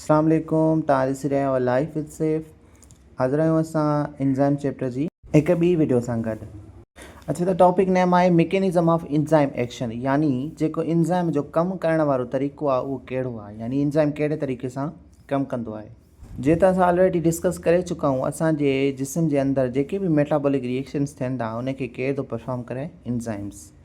اسلام عليڪم توهان ڏسي رهيا آهيو لائف وٿ سيف حاضر آهيون اسان انزائم چيپٽر جي هڪ ٻي وڊيو سان گڏ اچو ته ٽاپڪ نيم آهي ميڪينزم آف انزائم ايڪشن يعني جيڪو انزائم جو ڪم ڪرڻ وارو طريقو آهي اهو ڪهڙو آهي يعني انزائم ڪهڙي طريقي سان ڪم ڪندو آهي جيئن ته اسان آلريڊي ڊسڪس ڪري چڪا آهيون اسان جي جسم جي اندر جيڪي به ميٽابولڪ ريئيڪشنس ٿين ٿا ان کي ڪير ٿو پرفارم ڪري enzymes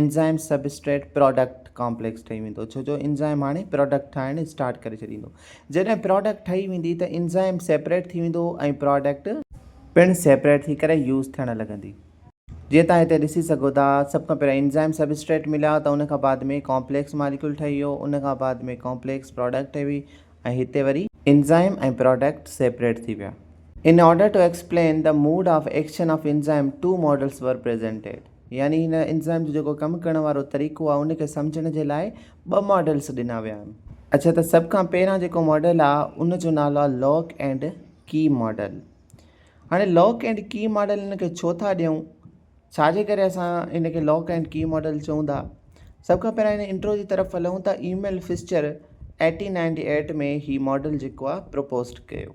enzyme substrate product complex ٺهي ويندو ڇو جو انزائم هاڻي پراڊڪٽ ٺاهڻ اسٽارٽ ڪري ڇڏيندو جڏهن پراڊڪٽ ٺهي ويندي ته انزائم سيپريٽ ٿي ويندو ۽ پراڊڪٽ پڻ سيپريٽ ٿي ڪري يوز ٿيڻ لڳندي جيئن توهان هتي ڏسي سگهو ٿا سڀ کان پهريان انزائم سب اسٽريٽ مليا ته ان کان بعد ۾ ڪامپليڪس ماليڪيول ٺهي ويو ان کان بعد ۾ ڪامپليڪس پراڊڪٽ ٺهي وئي ۽ هتي وري انزائم ۽ پراڊڪٽ سيپريٽ ٿي ويا. In order to explain the mode of action of enzyme two models were presented. يعني هن انزائم جو جيڪو ڪم ڪرڻ وارو طريقو آهي ان کي سمجهڻ جي لاء ٻه ماڊلز ڏنا ويا آهن. اڇا ته سڀ کان پهريان جيڪو ماڊل آهي ان جو نالو آهي لاڪ اينڊ ڪي ماڊل. هاڻي لاڪ اينڊ ڪي ماڊل هن کي ڇو ٿا ڏيون؟ ڇا جي ڪري اسان هن کي لاڪ اينڊ ڪي ماڊل چئون ٿا؟ سڀ کان پهريان هن انٽرو جي طرف هلون ته Emil Fischer eighteen ninety eight ۾ هي ماڊل جيڪو آهي پروپوزڊ ڪيو.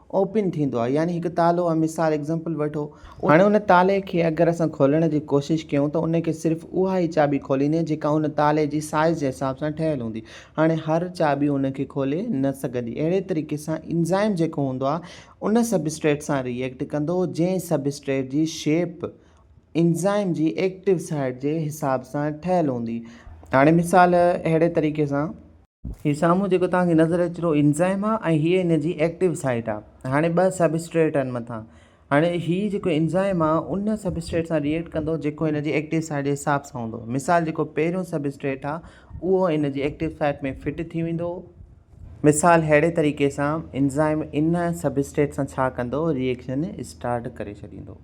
اوپن ٿيندو آهي يعني هڪ تالو آهي مثال Example وٺو هاڻي ان تالي کي اگر اسان کولڻ جي ڪوشش ڪيون ته ان کي صرف اها ئي چاٻي کوليندي جيڪا ان تالي جي سائيز جي حساب سان ٺهيل هوندي هاڻي هر چاٻي ان کي کولي نه سگهندي اهڙي طريقي سان انزائم جيڪو هوندو آهي ان سبسٽريٽ سان ري ايڪٽ ڪندو جنهن سبسٽريٽ جي شيپ انزائم جي ايڪٽو سائيٽ جي حساب سان ٺهيل هوندي هاڻي مثال اهڙي طريقي سان. هي سامهون جيڪو توهان کي نظر اچي ٿو انزائم آهي ۽ هيء ان جي ايڪٽو سائيٽ آهي. هاڻي ٻه سبسٽريٽ آهن مٿان. هاڻي هي جيڪو انزائم آهي ان سبسٽريٽ سان ري ايڪٽ ڪندو جيڪو ان جي ايڪٽو سائيٽ جي حساب سان هوندو. مثال جيڪو پهريون سبسٽريٽ آهي اهو ان جي ايڪٽو سائيٽ ۾ فٽ ٿي ويندو. مثال ههڙي طريقي سان انزائم ان سبسٽريٽ سان ڇا ڪندو ري ايڪشن اسٽارٽ ڪري ڇڏيندو.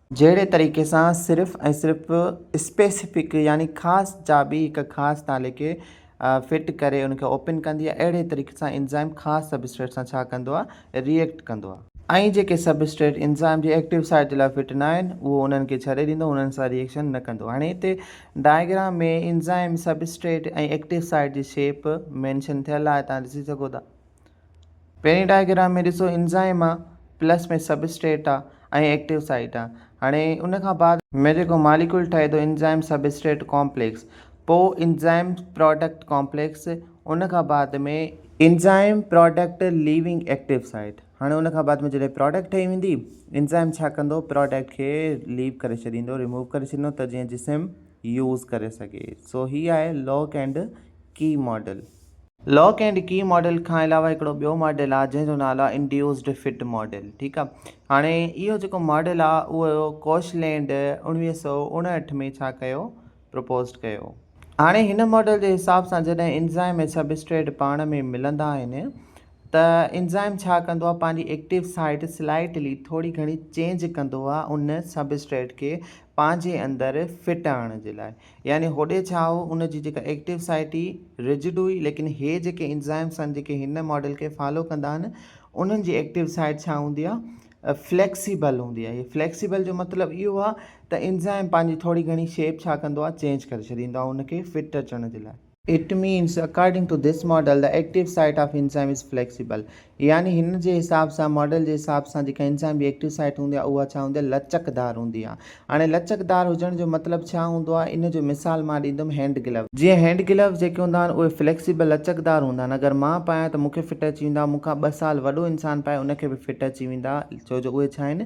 جهڙي طريقي سان صرف ۽ صرف اسپيسفڪ يعني خاص چاٻي هڪ خاص تالي کي فٽ ڪري ان کي اوپن ڪندي آهي اهڙي طريقي سان انزائم خاص سبسٽريٽ سان ڇا ڪندو آهي ري ايڪٽ ڪندو آهي ۽ جيڪي سبسٽريٽ انزائم جي ايڪٽو سائيٽ جي لاء فٽ ناهن اهو انهن کي ڇڏي ڏيندو انهن سان ري ايڪشن نه ڪندو هاڻي هتي diagram ۾ enzyme substrate ۽ active site جي شيپ مينشن ٿيل آهي توهان ڏسي سگهو ٿا. پهرين ڊائگرام ۾ ڏسو انزائم آ پلس ۾ سبسٽريٽ آ ۽ ايڪٽيو سائيٽ آ هاڻي ان کان بعد ۾ جيڪو ماليڪول ٺهي ٿو انزائم سبسٽريٽ ڪامپليڪس پو انزائم پراڊڪٽ ڪامپليڪس ان کان بعد ۾ enzyme product leaving active site هاڻي ان کان بعد ۾ جڏهن پراڊڪٽ ٺهي ويندي انزائم ڇا ڪندو پراڊڪٽ کي ليو ڪري ڇڏيندو ريموو ڪري ڇڏيندو ته جيئن جسم يوز ڪري سگهي سو هي آهي lock and key model lock and key model کان علاوه هڪڙو ٻيو ماڊل آ جنهن جو نالو آ انڊيوسڊ فٽ ماڊل ٺيڪ آ هاڻي اهو جيڪو ماڊل آ اهو ڪوش لينڊ اوڻويهه سؤ اڻهٺ ۾ ڇا ڪيو پروپوزڊ ڪيو هاڻي هن ماڊل جي حساب سان جڏهن انزائم ۽ سبسٽريٽ پاڻ ۾ ملندا آهن ته انزائم ڇا ڪندو آ پنهنجي ايڪٽيو سائيٽ سلائيٽلي ٿوري گهڻي چينج ڪندو آ ان سبسٽريٽ کي پنهنجي اندر فٽ آڻڻ جي لاء يعني هوڏي ڇا هو ان جي جيڪا ايڪٽيو سائيٽ هئي رجڊ هئي ليڪن هي جيڪي انزائمس آهن جيڪي هن ماڊل کي فالو ڪندا آهن انهن جي ايڪٽيو سائيٽ ڇا هوندي آهي فليڪسيبل هوندي آهي هي فليڪسيبل جو مطلب اهو آهي ته انزائم پنهنجي ٿوري گهڻي شيپ ڇا ڪندو آهي چينج ڪري ڇڏيندو آهي ان کي فٽ اچڻ جي لاء It means, According to this model, the active site of enzyme is flexible. يعني هن جي حساب سان، ماڊل جي حساب سان، جيڪا انزائم جي ايڪٽو سائيٽ هوندي آهي، اها ڇا هوندي آهي؟ لچڪدار هوندي آهي. هاڻي لچڪدار هجڻ جو مطلب ڇا هوندو آهي؟ ان جو مثال مان ڏيندم هينڊ گلوز. جيئن هينڊ گلوز جيڪي هوندا آهن، اهي فليڪسيبل، لچڪدار، هوندا آهن. اگر مان پايان ته مون کي فٽ اچي ويندا. مون کان ٻه سال وڏو انسان پائي، ان کي به فٽ اچي ويندا. ڇو جو اهي ڇا آهن؟